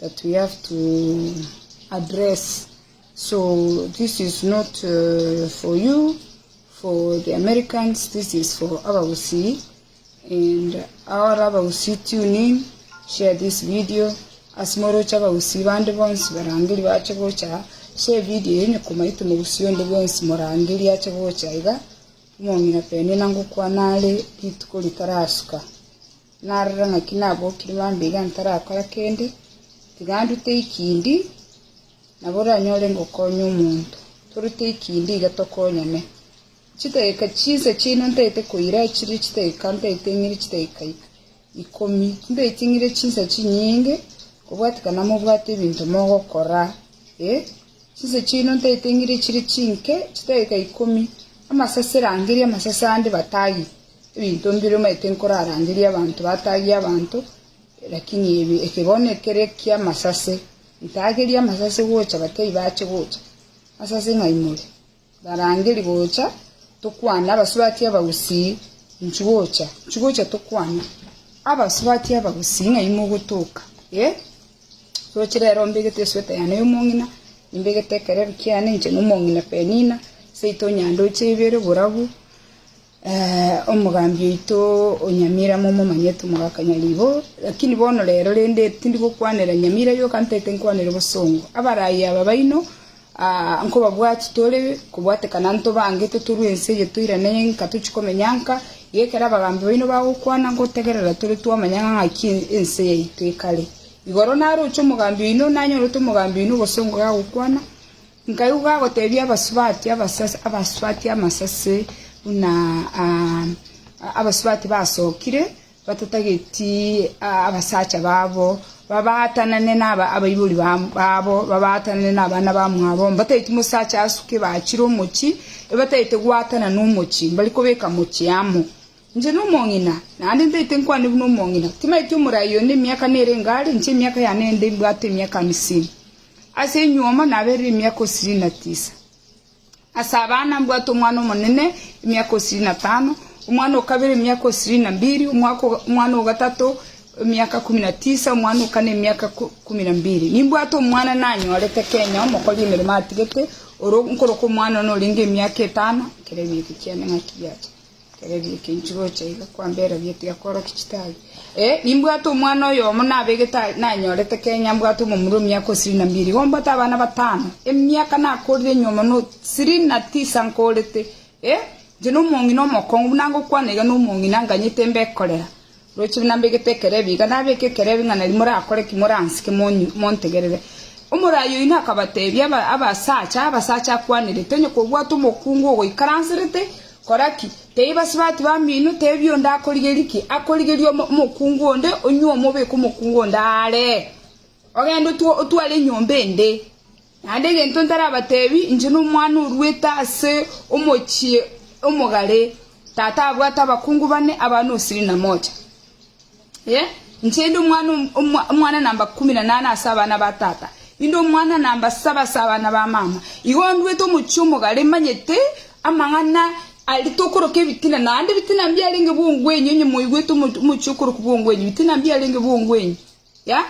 that we have to address so this is not for you for the Americans this is for abagusii and all abagusii tune in share this video ase moroche abagusii bande bonsi barangeri bache gocha aa share video eye onye komaete omogusii onde bwensi morangeri ache gocha iga omong'ina penia nangokwana are rituko ritarasuka. Narore ng'aki nabokire mambia iga ntarakora kende, tiga ndute ikindi, nabo oranyore ngokonya omonto. Torute ikindi iga tokonyane. Chidageka chinsa chiaino ntaete koira chire chidageka ntaete ng'ire chidageka ikomi. Timbaeti ng'ire chinsa chinyinge, kobwatikana mobwate ebinto mogokora. Eh, chinsa chiaino ntaete ng'ire chire chinke, chidageka ikomi. Amasase rangeria amasase ande batagete. Ebinto mbire omanyete nkorarangerie abanto batagie abanto, lakini ebi eke bono ekere eki'amasase, ntagerie amasase gocha batebie bache gocha, masase ng'a imore, ntarangeri gocha tokwane abasubati abagusii, inchi gocha, inchi gocha tokwane abasubati abagusii ng'a imogotoka, eh, roche rero mbegete esweta yane y'omong'ina, nimbegete ekereri kiane inche na omong'ina Penina, seito nyandoche ibere borabu. Ee, omogambi oito o Nyamira momomanye, tomogakanya ribo. Lakini bono rero rende tindi gokwanera Nyamira yoka, ntaete nkwanere bosongo. Abaraaia aba baino, aa, nkobabwati tore kobwatekana ntobange, totorwe ense eye toirane nka tochie komenya nka. Iga ekero abagambi baino bagokwana, ngotegerera tore twamanya ng'a ng'aki ense yaito ekare. Igoro naroche omogambi oino, nanyore ote omogambi oino obosongo gagokwana, Nkaigwa bagotebia abasubati, abasubati amasase buna abasubati basokire, batatageti abasacha babo, babaatanane nabaibori babo, babaatanane nabana bamwabo, mbatageti mosacha asuke bachire omochie, ebatagete goatana nomochi, mbari kobeka mochi amo. Inche nomong'ina, naende ntagete nkwane buna omong'ina, timanyeti omorai oyo nemiaka nere iga are, inche emiaka yane ende mbwate emiaka amisini. Ase enyuomo naberire emiaka osirini na tisa. Ase abana mbwate omwana omonene emiaka osirini na tano, omwana o kabere emiaka osirini na mbiri, omwana o gatato emiaka kumi na tisa, omwana o kane emiaka kumi na mbiri. Nimbwate omwana nanyorete kenya omokori emeremo atigete, oro nkoroka omwana one orenge emiaka etano ekero ebiegwa chiane ng'aki biachire. Ekerebi eke inche gocha iga kwamberabia tiga kworokia chitari. Ee, nimbwate omwana oyomo nabegete a- nanyorete Kenya mbwate omomura omiaka o ishirini na mbiri. Igo mbwate abana batano. Emiaka nakorire nyuma no ishirini na tisa nkorete. Ee, inche nomong'ina omokong'u buna ngokwana iga nomong'ina nganyete mbe ekorera. Roche buna mbegete ekerebi iga, nabeke ekerebi ng'a nari morakore ki moransike, montegerere. Omoraai oyio nakabateebia, Abasacha, abasacha akwanerete, onye kobwate omokungu ogoikaranserete, kora ki? Tei basibati bamino, teebia onde akorigerie ki? Akorigerie omokungu onde, onyuo omobeke omokungu onde aare, ogende otware enyomba ende. Naende egento ntarabateebie, inche nomwana orwete ase omochie omogare, tata abwate abakungu bane, abana osiri na mocha. Yee, inche inde omwana omwana namba kumi na nane ase abana ba tata, inde omwana namba saba ase abana ba mama. Igo ndwete omochie omogare, manyete amang'ana aria tokoroka ebitina, naende ebitina mbiarenge bwong'wenyi, onye moigwete omochie okorokwa bwong'wenyi, ebitina mbiarenge bwong'wenyi. Yeah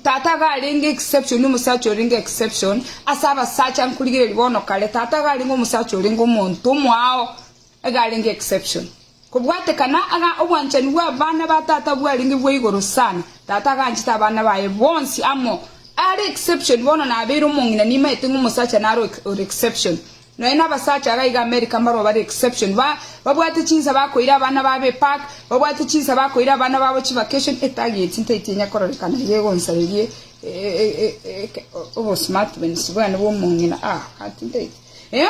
Tata iga arenge exception omosacha orenge exception ase abasacha nkorigereria bono kare tata iga arenge omosacha orenge omonto omoao iga arenge exception kobwatekana iga obwanchani bwa abana ba tata bwarenge bwa igoro sana tata iga anchete abana baye bonsi amo are exception bono nabeire omong'ina nimaete ng'a omosacha naro ore exception Nonya na abasacha iga iga America mbarwa bare exception, ba babwate chinsa bakoira abana babo epark, babwate chinsa bakoira abana babo chivacation, etageti ntaiti enya kororekana iga egonsarerie obosmartness bwane bwa omong'ina, ah gati ntaiti eh.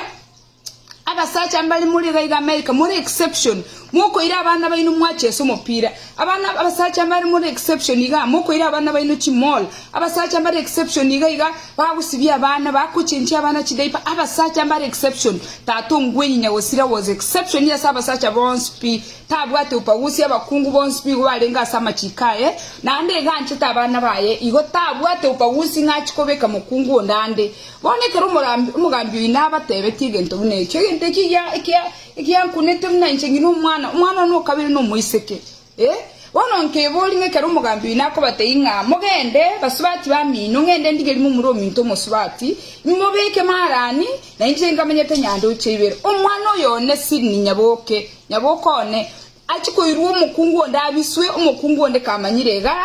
Abasacha mbare more iga iga America, more exception, mokoira abana baino mwachesa omopira, Abana abasacha mbare more exception iga mokoira abana baino chi mall abasacha mbare exception iga iga bagosibia abana bakochenchia abana chi diaper abasacha mbare exception tata ongwenyi nyagosira was exception ase abasacha bonsi pi tabwate upagusi abakungu bonsi pi igo barenge ase amachiko aye naende iga anchete abana baye igo tabwate upagusi ng'a achi kobeka mokungu onde ande bono ekero omogambi omogambi oino abatebetie egento buna echo egento eki gia ekia Egiankunete buna inche ng'ina omwana, omwana one o kabere nomoiseke. Ee, bono nkeboria ng'a ekero omogambi oino akobatebi ng'a mogende, basubati bamino, ng'ende ndigerie momura ominto omosubati, imobeke maarani, na inche nkamenyete nyandoche ibere. Omwana oyo one sini, nyaboke, nyaboke one, achie koirwa omokungu onde abiswe, omokungu onde kamanyire iga.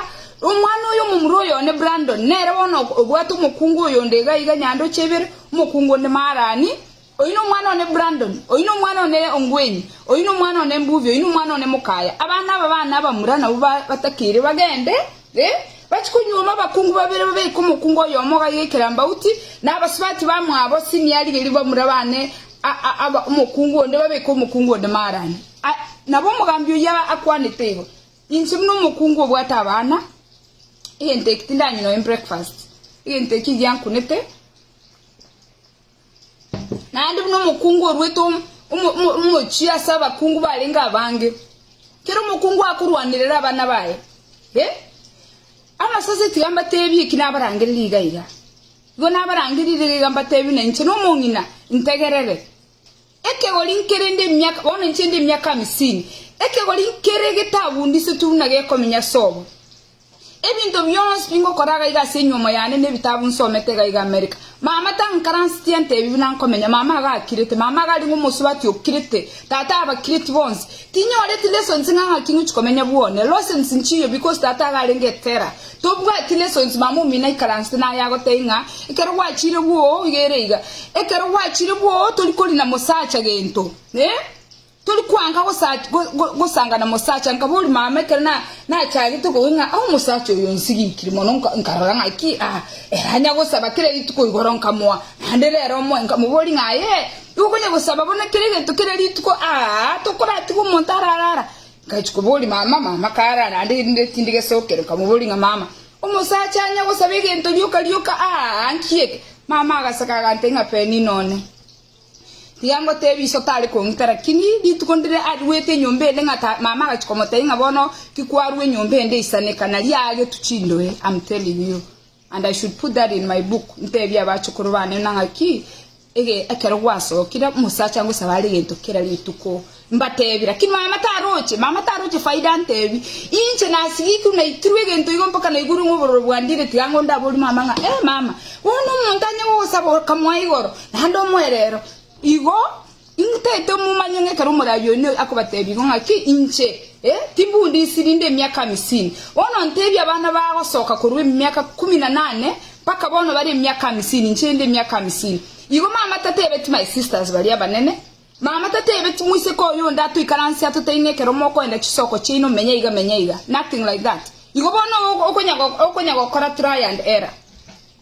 Omwana oyo omomura oyo one Brandon, nere bono obwate omokungu oyonde iga iga nyandoche ibere, omokungu onde maarani, Oyio nomwana one Brandon, oyio nomwana one Ongwen, oyio nomwana one Mbuvi, oyio nomwana one Mokaya. Abana aba bane abamura nabwo batakeire bagende, e, bachie konyuoma abakungu babere babeke omokungu oyomo gaiga ekerambauti, na abasubati bamwabo sini arigerie bamura bane a, a, aba omokungu onde babeke omokungu onde maarani. A, nabo omogambi oyio akwanete igo, Inche buna omokungu obwate abana, egento eki tindanywa noe breakfast, egento eki giankunete. Naende buna omokungu oruete omochie ase abakungu barenge abange, kera omokungu akorwanerera abana baye. Amasase tiga mbateebie eki nabarangerire iga iga. Igo nabarangerire iga iga mbateebie na inche nomong'ina, ntegerere. Ekegori nkere inde emiaka, bono inche inde emiaka amisini, ekegori nkere getagundisetwe buna gekominya ase obo. Ebinto bionsi pi ngokora iga iga ase enyuomo yane na ebitabu nsomete iga iga Amerika. Mama tankaransitie ante ebi buna nkominya, mama iga akirete, mama iga ari ng'omosubati okirete, tata abakireti bonsi. Tinyoreti lessons ng'a ng'aki ngochi komenya bwone, losens nchiyo because tata iga arenge etera. Tobwati neso inse mama omino aikaransete naye agotebie ng'a ekero gwachire bwoo iga ere iga. Ekero gwachire bwoo tori kori na mosacha gento. Eh? Tori kwanka gosa go go gosanga na mosacha nkaba ori mama ekero na nachagete kobua ng'a ah omosacha oyo onsiginkiri mono nka nkarora ng'aki ah ere anya gosaba kera rituko igoro nkamoa naende rero omoe nkamobori ng'a aye igo okonya gosaba bono kera egento kera rituko aa tokoratiga omonto ararara Ngachia koboria mama, mama karara naende erinde tindi gesokere. Nkamoboria ng'a, Mama, omosacha anya gosaba egento rioka rioka aa nki eke? Mama agaseka agantebia ng'a, Penina one, tiga ngotebie iso tare kong'ita. Rakini rituko ndire arwete enyomba ende ng'a ta, mama agachia komotebia ng'a, Bono ki kwarwa enyomba ende eisaneka, na riagetu chindoe, am telling you. And I should put that in my book, ntebie abachukuru bane buna ng'aki, ege ekero gwasokire, omosacha angosaba are egento kera rituko, mbatebi, lakini mama taroche, mama taroche faida antebi, inche nasigikirwe naitirwe egento igo mpaka naigurwe ng'a obororo bwandire tiga ng'o ndaborie mama ng'a eh mama, bono omonto anye gogosaba okamoa igoro, naende omoe rero. Igo Inwe taito momanya ng'a ekero omoraai one akobateebia igo ng'aki, inche, ee, timbunde isi rinde emiaka amisini, bono nteebia abana baa gosoka korwa emiaka ikomi na nane mpaka bono bare emiaka amisini, inche rinde emiaka amisini. Igo mama tateebeti my sisters baria abanene, mama tateebeti moiseke oyo onde atoikaransie atotebie ng'a ekero mokoenda chisoko chiaino menya iga menya iga, nothing like that. Igo bono okonya gokora trial and error.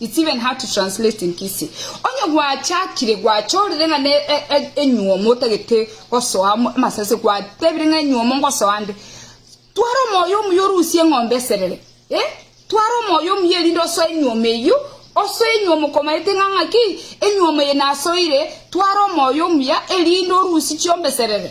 It's even hard to translate in Kisii. Onye gwachakire gwachorire ng'a ne e, e, enyuomo otagete gosoa mo- amasase gwatebire ng'a enyuomo ngosoa nde twara omoyo omuya orusie eng'ombe eserere eh? twara omoyo omuya erinde osoe enyuomo eyio osoe enyuomo komaete ng'a ng'aki enyuomo eye nasoire twara omoyo omuya erinde orusi chiomb'eserere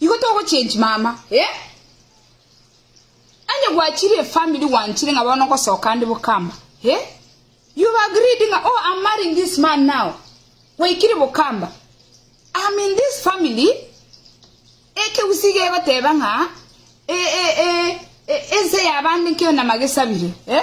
Igo togochenchi mama eh. Onye gwachire efamiri gwanchire ng'a bono ngosoka ande Bokamba eh. You've agreed ng'a oh I'm marrying this man now. Gwaikire Bokamba. I'm in this family. Ekegusii iga egoteba ng'a e e e e ense ya bande nkeo namagesabire eh.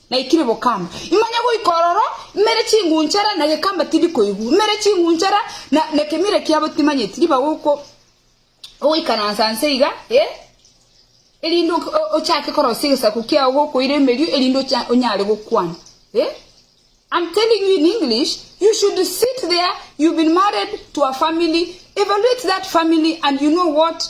Naikire bokamba, imanye goika ororo, imere chingunchara na gekamba tindi koigwa, imere chingunchara na nekemira kiabo timanyeti, ribaga oko ogoikaransa nse iga, eh, erinde ok ochake korosia egesaku kiao gokoira emerio erinde ocha onyare gokwana, eh, I'm telling you in English, you should sit there, you've been married to a family, evaluate that family and you know what,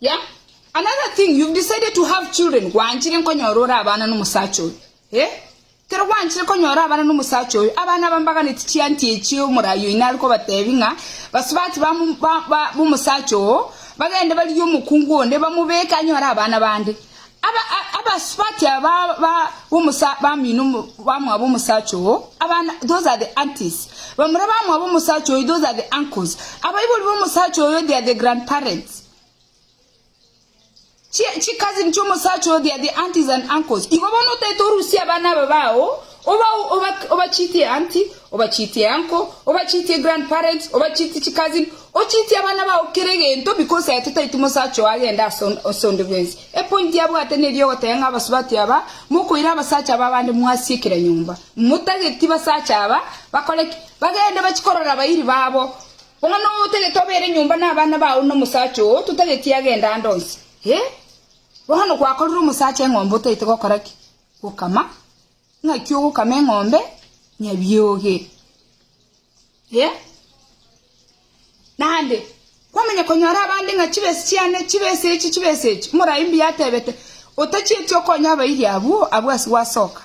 Yah, another thing, you've decided to have children, gwanchire nkonyora ore abana nomosacha oyo. Eh? Kero gwanchire konyora abana nomosacha oyo, abana aba mbaganeti chianti echio omorai oino are kobatebi ng'a basubati ba mo- ba- ba- bomosacha oo bagende barigie omokungu onde bamobeke anyore abana bande. Abasubati aba b'abamino bamwabo omosacha oo, abana, those are the aunties, bamura bamwabo omosacha oyo, those are the uncles, abaibori b'omosacha oyo, they are the grandparents, chi chicousin chi'omosacha oyo, they are the aunties and uncles. Igo bono otaete orusie abana aba bao Obachitie auntie, obachitie uncle, obachitie grandparents, obachitie chicousin, ochitie abana bao kera egento, because aye totaeti omosacha oo agende ase ase onde bwensi. Epointi abwate neri ogotebia ng'a abasubati aba, mokoira abasacha b'abande mwasie kera nyomba. Motageti basacha aba bakore ki? Bagende bachie korora abairi babo. Bono noe otagete obere nyomba na abana bao na omosacha oo totageti agende ande onsi? Hee? Bono gwakorire omosacha eng'ombe otaete gokora ki? Gokama, ng'aki ogokama eng'ombe nyabioge? Ee, naende kwamanya konyora abande ng'a chibesa chiane chibesa echi chibesa echi, omorai mbuya atebete, otachieti okonya abairi abwo, abwo ase gwasoka.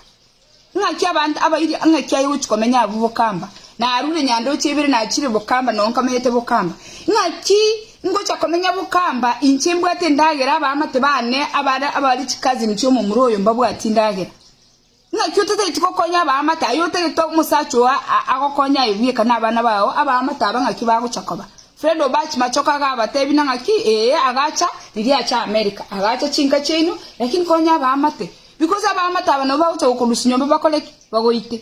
Ng'aki abanto abairi ng'aki aye gochi komenya abwo bokamba, narure nyandoche ibere nachire bokamba nonkamete bokamba. Ng'aki Ingocha komenya bokamba, inche mbwate endagera, abaamate baane abare abare chikazini chi'omomura oyo mbabwatie endagera. Naki otataeti gokonya abaamate aye otagete omosacha oyo agokonye aye bweka nabana bao abaamate aba ng'aki bagocha koba. Fred Obach machoka agabatebina ng'aki ee agacha riria acha America agacha chinka chiaino lakini konya abaamate because abaamate aba nabo bagocha gokorusia nyomba bakore ki? Bagoite.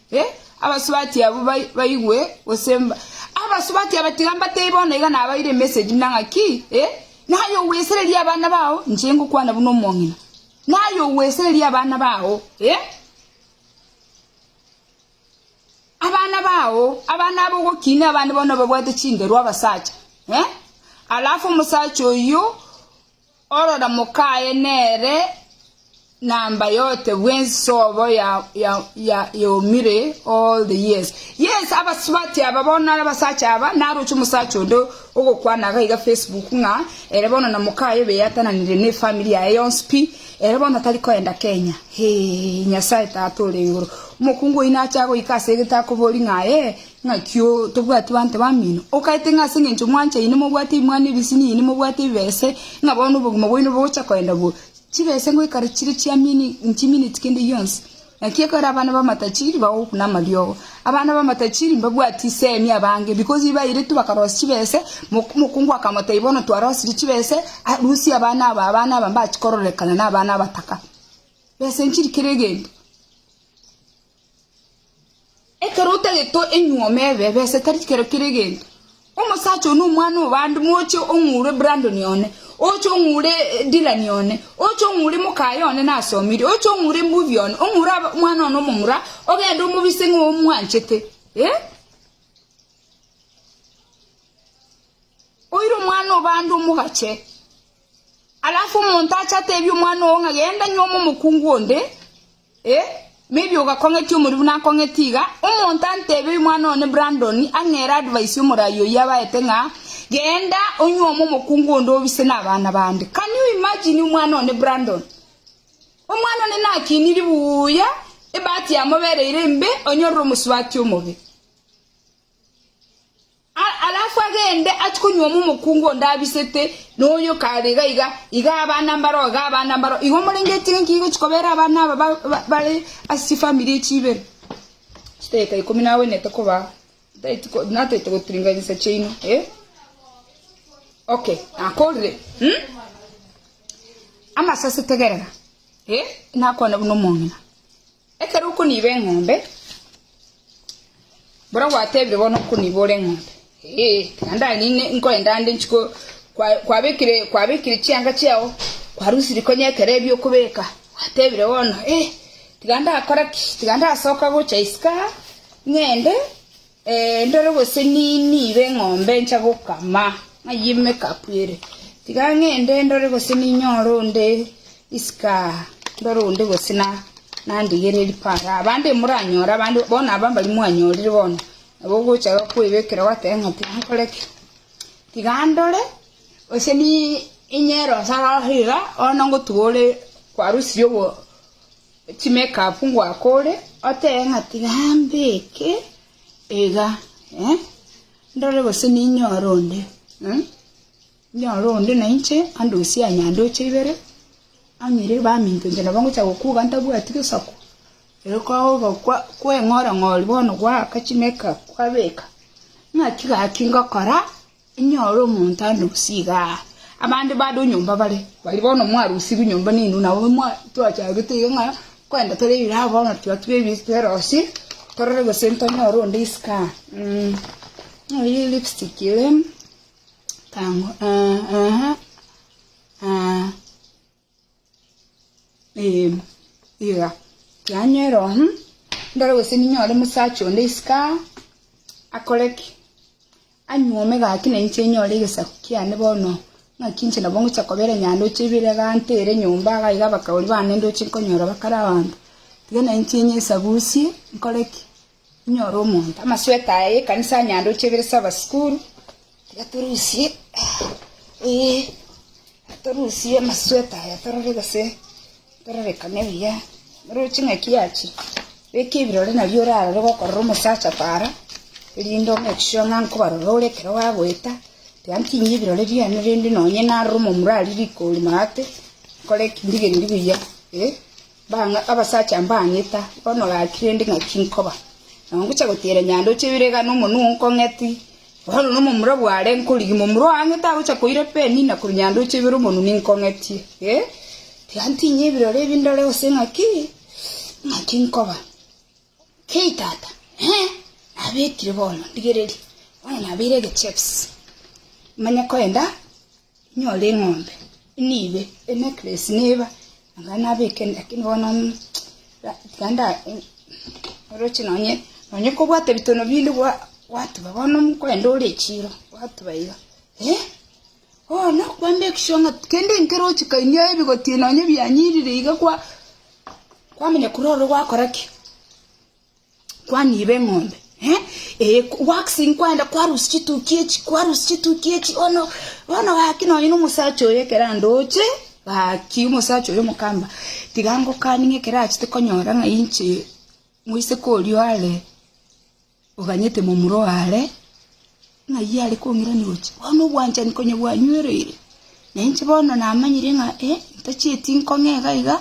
E, abasubati abwo bai, baigwe, gose mba, abasubati aba tiga mbatebie bono iga nabaire emessage buna ng'aki, e, naye ogwesereria abana bao, inche ngokwana buna omong'ina, naye ogwesereria abana bao, e, abana bao, abana abo ogokinia abande bono babwate chinderu abasacha, e, alafu omosacha oyio Orora mokaye nere namba yote bw'ensobo yaumire all the years. Yes, abasubati aba bono nare abasacha aba, naroche omosacha onde ogokwana iga iga Facebook ng'a ere bono na mokaye beyatananire ne family yaye yonsi pi, ere bono tari koenda Kenya. Hee, Nyasaye Tata ore igoro. Omokungu oyio nache agoika ase egete akobori ng'a aye. Naki oo tobwati baanto bamino, okaete ng'a ase engencho mwanchaine mobwate ebimwani ebisiniini, mobwate ebibese, ng'a bono obogima bwaino bogocha koenda bo. Chibese ngoikare chire chiamini nchimineti kende gionsi. Naki ekero abana b'amatajiri bagokuna amariogo, abana b'amatajiri mbabwati isemi abange, because bairetwe bakarosia chibese, mok mokungu akamotebi bono twarosirie chibese, ah rusia abana aba, abana aba mbachi kororekana na abana abataka. Bese nchiri kera egento. Ekero otagete enyuoma ebe, ebesa etari kero kere egento. Omosacha oyo nomwana o bande, moche ong'ure Brandon one, oche ong'ure Dylan one, oche ong'ure mokaye one nasomire, oche ong'ure Mbuvi one, ong'ure aba omwana one omomura, ogende omobise ng'a omwanchete. Eh? Oire omwana o bande omogache. Alafu omonto ache atebie omwana oo ng'a genda nyuoma omokungu onde, Ee, maybe ogakong'etia omorimu nakong'etie iga, omonto antebe omwana one Brandon ang'ere advice omoraai oyio abaete ng'a genda onyuome omokungu onde obise nabana bande. Can you imagine omwana one Brandon? Omwana one nakiniri buuya, ebahati yamobereire embe, onyorire omosubati omobe. Alafu agende achi konywoma omokungu onde abisete, na oyo kare iga iga. Iga abana mbaroo, iga abana mbaroo. Igo morenge ekiagera inki gigochi kobera abana aba bare ase chifamiri echi chibere? Chidakika ikomi nagwenerete kobaa, ntaeti ko, nataete gotiring'ania insa chiaino, eh? Okay, nakorire, hm? Amasase tegerera, eh? Nakwane buna omong'ina. Ekero okoniba eng'ombe, mbono gwatebire bono okoniba ore eng'ombe, ee, tiga ndare ninde nkoende ande nchi ko kwa kwabekire kwabekire chianga chiago, kwarusiri konya ekero ebiokobeka, gwatebire bono, ee, tiga ndakore ki, tiga ndasoka gocha isiko aa, ng'ende Endoro gose ninyibe eng'ombe ncha gokama, ng'ai emekapu ere? Tiga ng'ende ndore gose ninyore onde isiko aa, ndore onde gose nandigere ripara. Abande moranyore, abande bono aba mbaria mwanyorire bono, nabo ogocha kwebekera gwateba ng'a tiga nkore ki? Tiga ndore gose ninyere onsi aroro iga, bono ngotuga ore kwarusirie obo. Chimekapu ngwakore, otebe ng'a tigambeke iga, ndore gose ninyore onde, ninyore onde nainche andosie aa nyandoche ibere, amire baminto inche nabo ngocha gokuga ntabwati gesaku, ere kwagoka kwa kweng'ora ng'ori bono gwaaka chimekapu kwabeka, ng'aki gaki ngokora Inyore omonto anusie iga aa, abande bade onyomba bare, baria bono mwarusirwe nyomba neino, nabo twachagete iga ng'a kwenda tore ebiraa bono twatube ebinto twerosii torore gose ntonyore onde isiko aa ng'oyee lipstick ere kang'u eeh eeh. Ee, iga kianywa ero ng'u ndore gose ninyore omosacha onde isiko aa, akore ki? Anyuome gaki na inche nyore egesaku kiane bono, ng'aki inche nabo ngocha kobera onye aye ndoche ibere iga ntere nyomba iga iga abakabori bane ndoche nkonyora bakare abanto. Tiga na inche nyesagusie, nkore ki? Inyora omonto. Amasweato aya y'ekanisa ya nyandoche ebere ase abasikuru. Tiga torusie, ee, torusie amasweato aya torore gose tororekane buya. Rora ching'aki achire. Beka ebirore nario orarore gokorora omosacha para, erinde o-make sure ng'a nkobarora ore ekero bagoeta. Tiga ntinye ebirore biane rende nonye narora omomura aria riko rimo ate, nkore ki? Ndigerie buya, ee. Bang'aa abasacha mbang'ita, bono gaki rende ng'aki nkoba? Nao ngocha gotiira nyando ochia oire iga nomonwa oo nkong'eti? Bono nomomura bw'aare nkorigia momura oo ang'ete agocha koira Peni, na korwa nyando ochia oibere omonwa ninkong'etie. Tiga ntinye ebirori ebi ndore gose ng'aki nkoba. Kei, tata? Ee, nabekire bono, rigereria, bono nabeire egechepsi. Manye koenda inyore eng'ombe, inibe enecklace neba anga nabeke ende, lakini bono mm ra tiga nda eh, oroche nonye nonye kobwate bitono binde gwa gwatuba bono mm koenda ore echiro, gwatuba iga. Ee. Bono kwande ekisio ng'a kende nkere ochika inio aye bigotie nonye bianyirire iga kwa kwamanya korwa oro gwakora ki? Kwaniiba eng'ombe eh eye wakisi nkwenda kwarusia chitukia echi kwarusia chitukia echi bono bono gaki nonye na omosacha oyo ekero andoche gaki omosacha oyo omokamba tiga ngokani ng'a ekero achete konyora ng'a inche moiseke oria oare. Oganyete momura oo aare, ng'ai are kong'irania gochia? Bono obwanchani konya bwanywereire, na inche bono namanyire ng'a ee ntachieti nkong'e iga iga,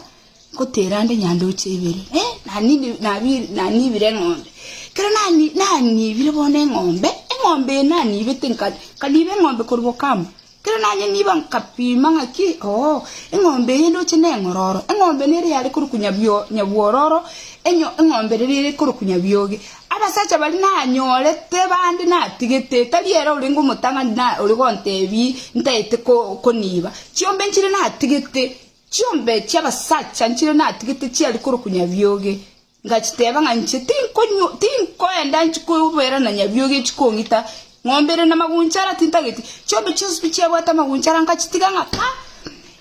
ngotera nde nyandoche ibere. Ee, nanibi- nabi- nanibire eng'ombe. Ekero nani- nanibire bono eng'ombe, eng'ombe eye nanibete nka- nkaniba eng'ombe korwa Bokambu, Kera naye nigo nkapima ng'aki, Oo, eng'ombe eye ndoche neng'ororo, eng'ombe nere yare korokwa nyabwororo, enyo eng'ombe rere ere korokwa nyabioge. Abasacha baria nanyorete bande natigete, tari ere orenge omotang'ani na ore gontebi ntaete koniba. Chiombe nchire natigete, chiombe chi'abasacha nchire natigete chiare korokwa nyabioge, Ngachiteeba ng'a inche tinkoenda koberana nyabiogi echi kong'ita, ng'ombe ere namagunchara tintageti. Chiombe chionsi pi chiabwate amagunchara ngachitiga ng'a ka,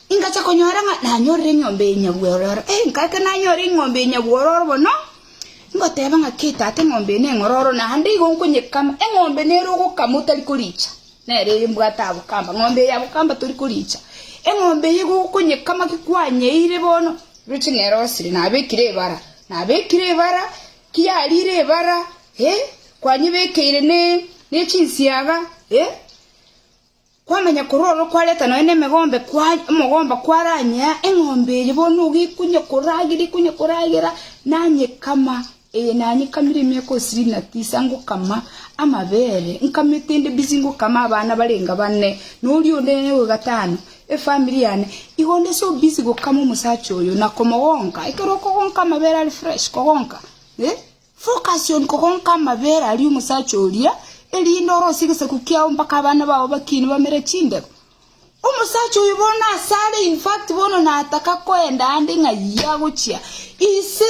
ingacha konyora ng'a nanyorire eng'ombe ya nyabwororo. Ei nkagera nanyore eng'ombe ya nyabwororo bono, ngoteeba ng'a kei tata eng'ombe eye neng'ororo naende igo nkonyekama. Eng'ombe nere ogokama otari koricha. Nere eye mbwate abokamba, ng'ombe eye abokamba tori koriicha. Eng'ombe eye gokonyekama ki kwanyeire bono? Roche nerosire, nabekire ebara. Nabekire ebara, ki yarire ebara, eh, kwanyebekeire ne, ne chinsiaga, eh. Kwamanya korwa oro kwareta nonya ne emegombe kwa, omogomba kwaranyea, eng'ombe eye bono nigo ekonya koragera, ekonya koragera, nanyekama. Ee, nanyekamire emiaka osiri na tisa, ngokama amabere, nkama etende bisi, ngokama abana barenga bane, na oria onde nere o gatano, efamiri yane. Igo onde so bisi gokama omosacha oyo, na komogonka. Ekero okogonka amabere are fresh, kogonka, eh, focus on kogonka amabere aria omosacha oria, erinde orosie egesaku kiago mpaka abana bao bakiine bamere chindero. Omosacha oyo bono nase are, in fact, bono nataka koenda ande ng'ai agochia. Ise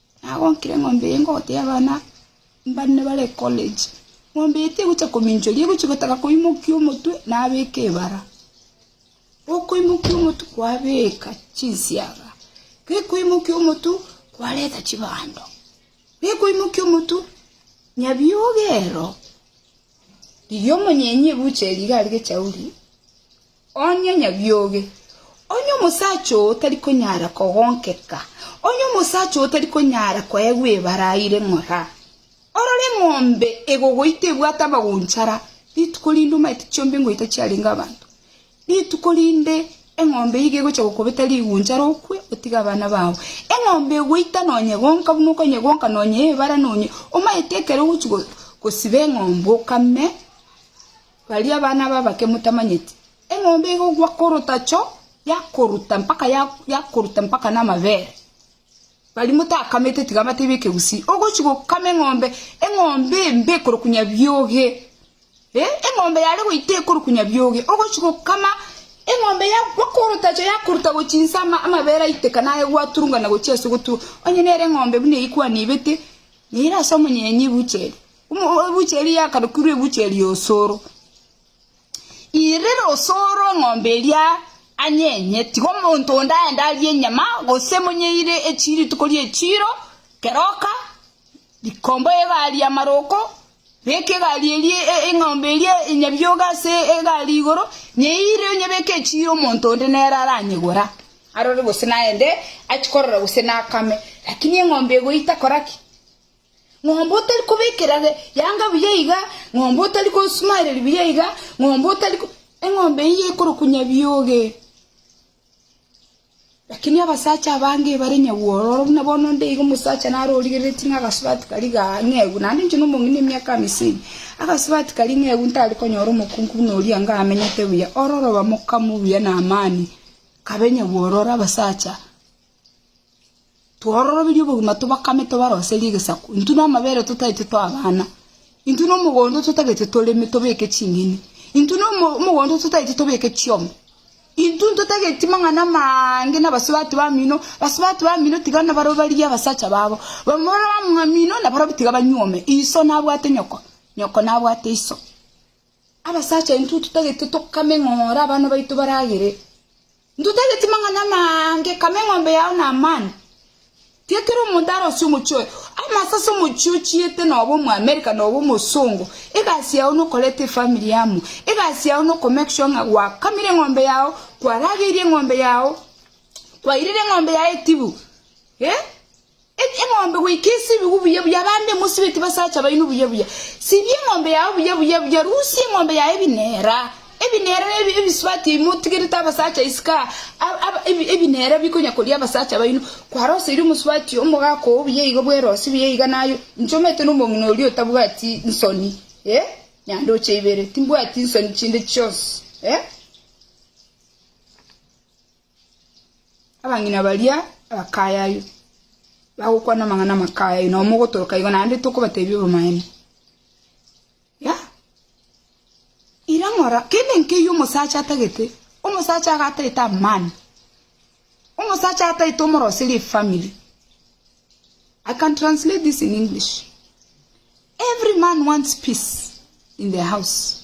Nagonkire eng'ombe eye ngotebia abana mbane bare ecollege, Ng'ombe eye tegocha kominchwa eria egochia gotaka koimokia omotwe nabeka ebara. Gokoimokia omotwe kwabeka chinsiaga, gekoimokia omotwe kwareta chibando, gekoimokia omotwe nyabioga ero riria omonyenyi ebucheri iga arigechauri Onye nyabioge, onye omosacha oo tari konyara kogonkeka, onye omosacha oo tari konyara koegwa ebara aire ng'ora, orore eng'ombe egogoita ebwate amagonchara, rituko rinde omaete chiombe ngoita chiarenge abanto. Rituko rinde eng'ombe iga egocha gokobeta rigonchara okwe, otige abana bao. Eng'ombe egoita nonyegonka buna okonyegonka nonye ebara nonye, omaete ekero ogochi gosiba eng'ombe okame, Baria bana b'abake motamanyeti, eng'ombe egokwa korotacho yakoruta mpaka yakoruta mpaka namabere. Baria motakamete tiga batebe ekegusii, ogochi gokama eng'ombe, eng'ombe embe ekorokunya bioge, eh, eng'ombe yare goita ekorokunya bioge, ogochi gokama eng'ombe yakwa korotacho yakoruta gochia inse ama amabere aiteka naye gwaturungana gochia ase ogotu, onye nere eng'ombe buna eywo kwanebete, nere ase omonyenye ebucheri. Ebuchia eria yakarokirwe ebuchia eria osoro. Irira osoro eng'ombe eria anyenye, tiga omonto onde aende arie enyama, gose monyeire echi rituko ri'echiiro, keroka, rikomba egari y'amaroko, beka egari eria eng'ombe eria enyabioga ase egari igoro, nyeire onyebeke echiiro omonto onde nere aranyegora, arore gose naende achie korora gose nakame. Lakini eng'ombe egoita kora ki? Ng'ombe otari kobekera yanga buya iga, ng'ombe otari kosumaereria buya iga, ng'ombe otari... Eng'ombe eyio ekorukunya bioge. Lakini abasacha abange bare nyagwororo buna bono onde iga omosacha naro origereretie ng'a agasubati karia ga ng'eu, naende inche na omong'ina emiaka amisini, agasubati karia ng'eu ntari konyora omokungu buna oria anga amenyete buya, ororo bamokamu buya na amani, kabe nyagwororo abasacha. Twororoberie obogima tobakame tobaroserie egesaku. Intwe namabere totaete toa abana. Intwe nomogondo totagete toreme tobeke ching'eni. Intwe nomogondo totaete tobeke chiombe. Intwe ntotageti mang'ana amaange nabasubati bamino. Basubati bamino tiga nabaroberie abasacha babo. Bamura bamamino nabarobwo tiga banyuome. Iso nabwate nyoko, nyoko nabwate iso. Abasacha intwe totagete tokame ng'ora abana baito baragere, ntotageti mang'ana amange, kama eng'ombe yao na amani. Tiakera omonto arosie omochie oye, ama sase omochie ochiete noba omoamerika noba omosongo, egasi yao nokoreta efamiri amo, egasi yao noko make sure ng'a gwakamire eng'ombe yao, kwarageirie eng'ombe yao, kwairire eng'ombe yao etibu, eh? Eng'ombe goika esibigwe buya buya, abande mosibeti basacha baino buya buya. Sibia eng'ombe yao buya buya buya, rusia eng'ombe yao ebinera. Ebinera nebi ebisibati ebi motigerete abasacha isiko aa, ab- ab- ebi- ebinera bikonya koria abasacha baino. Kwaroseire omosibati omogaka oo buya iga bwerosi buya iga naye, inche omanyete na omong'ina oria otabwati nsoni eh, nyandoche ibere, timbwati nsoni chinde chionsi eh. Abang'ina baria abakayaywa bagokwana amang'ana amakayaywa, nao mogotoroka igo naende tokobatebia obomaene. Yah! Ira ng'ora kende nkeyio omosacha atagete, omosacha iga ataete amani, omosacha ataete omoroserie efamiri. I can translate this in English, every man wants peace in the house.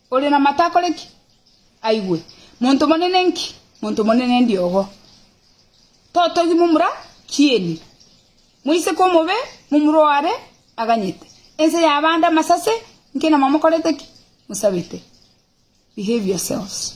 Oria namato akore ki? Aigwe. Monto monene nki? Monto monene ndiogo. Totogi momura kieni. Moiseke omobe momura oare aganyete. Ense ya abande amasase nki na mamokorete ki? Mosabete. Behave yourselves.